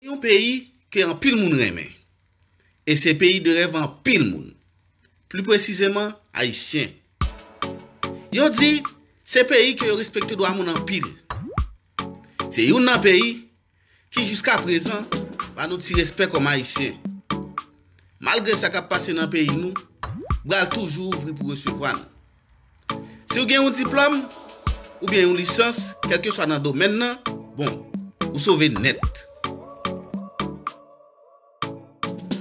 Gen yon peyi ke anpil moun renmen e se peyi de rèv anpil moun, pli presizeman Ayisyen. Yo di se peyi ke yo respekte dwa moun anpil. Se youn nan peyi ki jiska prezan ba nou ti respè kòm Ayisyen. Malgre sa k ap pase nan peyi nou, bra l toujou ouvri pou resevwa nou. Si w gen yon diplòm oubyen yon lisans kèlkeswa nan domèn nan, bon, ou sove nèt.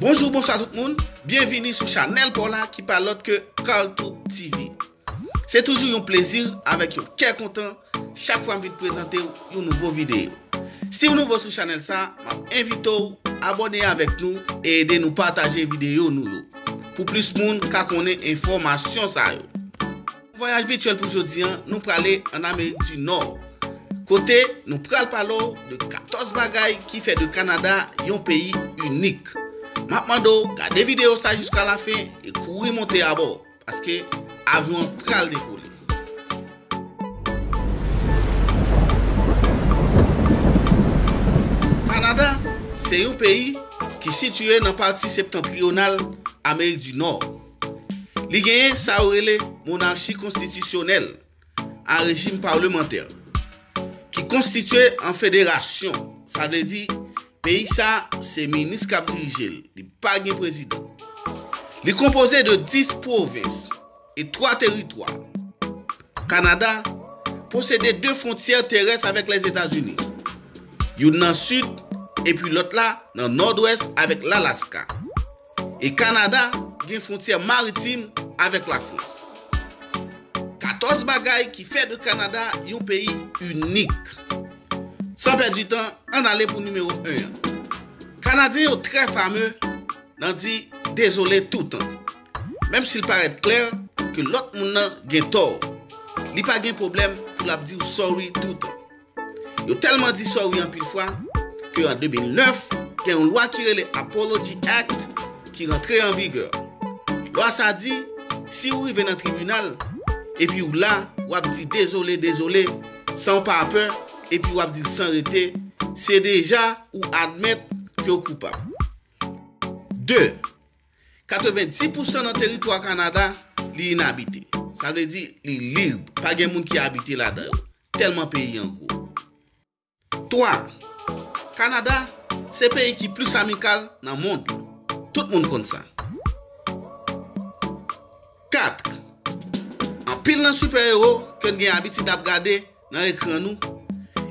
Bonjou bonswa tout moun, byenvini sou chanèl paw la ki pa lòt ke Carlto TV. Se toujou yon plezi avèk yon kè kontan chak fwa m vin prezante w yon nouvo videyo. Siw nouvo sou chanèl sa, map envite w abòne avèk nou e ede nou pataje videyo nou yo pou plis moun ka konnen enfòmasyon sa yo. Vwayaj vityèl pou jodi an, nou prale an Amerik di Nò, kote nou pral pale w de 14 bagay ki fè de Kanada yon peyi inik. Map mande w gade videyo sa jiska la fen e kouri monte abò, paske avyon an pral dekole. Kanada se yon peyi ki sitiye nan pati septantriyonal Amerik di Nò. Li genyen sa yo rele monarchi konstitisyonèl a rejim parlemantè ki konstitye an federasyon, sa vle di peyi sa se minis k ap dirije l, li pa gen prezidan. Li konpoze de 10 pwovens e 3 teritwa. Kanada posede 2 fwontyè terès avèk Lèzetazini, youn nan sid epi lòt la nan nòdwès avèk Lalaska. E Kanada gen fwontyè maritim avèk Lafrans. 14 bagay ki fè de Kanada yon peyi inik. San pèdi tan, ann ale pou nimewo 1 an. Kanadyen yo trè fameu nan di dezole toutan. Menm si l parèt klè ke lòt moun nan gen tò, li pa gen pwoblèm pou l ap di w sorry toutan. Yo tèlman di sorry anpil fwa ke an 2009, gen yon lwa ki rele Apology Act ki rantre an vigè. Lwa sa di, si ou rive nan tribinal, epi ou la, ou ap di dezole, dezole, san ou pa pè, epi ou ap di l san rete, se deja ou admèt ke ou koupab. 2, 90 pousan nan teritwa Kanada, li inabite. Sa vle di, li lib, pa gen moun ki abite ladan yo. Tèlman peyi an gwo. 3, Kanada se peyi ki plis amikal nan mond lan. Tout moun konn sa. 4, Anpil nan sipè ewo ke n gen abitid ap gade nan ekran nou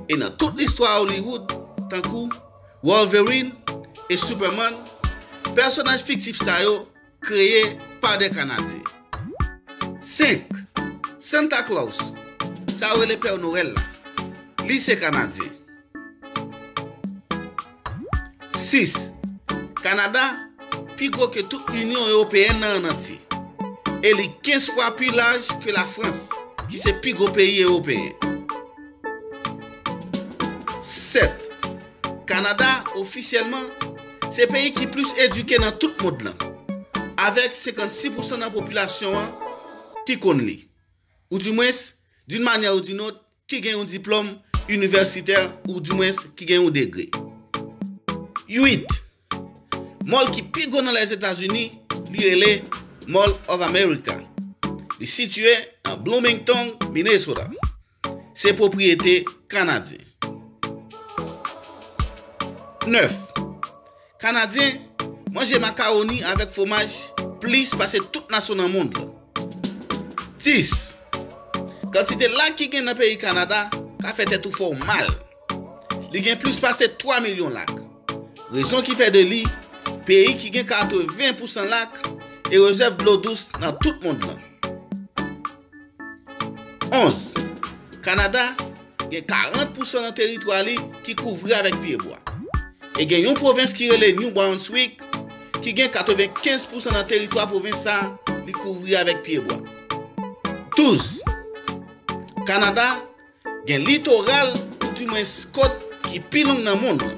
e nan tout listwa Hollywood tankou Wolverine e Superman, pèsonaj fiktif sa yo Kreye pa de Kanadyen. 5, Santa Claus, Sa yo rele Pè Nowèl la, li se Kanadyen. 6, Kanada pi gwo ke tout Inyon Ewopeyèn nan ann antye, e li 15 fwa pi laj ke Lafrans, ki se pi gwo peyi Ewopeyen. 7. Kanada, ofisyèlman, se peyi ki plis edike nan tout mond lan, avèk 56 pousan nan popilasyon an ki konn li, ou di mwens, d'une manière ou d'une autre, ki gen yon diplòm inivèsitè ou di mwens ki gen yon degre. 8, Mòl ki pi gwo nan Lèzetazini, li rele Mall of America. Li sitiye nan Bloomington, Minnesota. Se pwopriyete Kanadyen. 9, Kanadyen manje makawoni avèk fwomaj plis pase tout nasyon nan mond lan. 10, Kantite lak ki gen nan peyi Kanada ka fè tèt ou fè w mal. Li gen plis pase 3 milyon lak. Rezon ki fè de li peyi ki gen 80 pousan lak e rezèv dlo dous nan tout mond lan. 11. Kanada gen 40 pousan nan teritwa li ki kouvri avèk pyebwa, e gen yon pwovens ki rele New Brunswick ki gen 95 pousan nan teritwa pwovens sa li kouvri avèk pyebwa. 12. Kanada gen litoral ou dimwens kot ki pi long nan mond lan,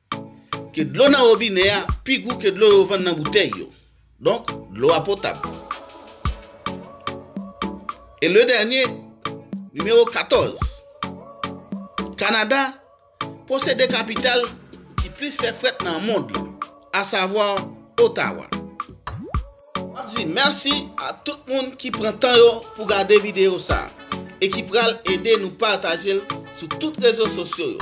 ke dlo nan wobinè a pi gou ke dlo yo vann nan boutèy yo. Donk, dlo a potab. E le dènye, nimewo 14, Kanada posede kapital ki plis fè frèt nan mond lan, asavwa Ottawa. Map di merci a tout moun ki pran tan yo pou gade video sa e ki pral ede nou patajel sou tout rezo sosyo yo.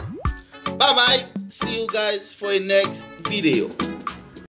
Bye bye see you guys for a next video.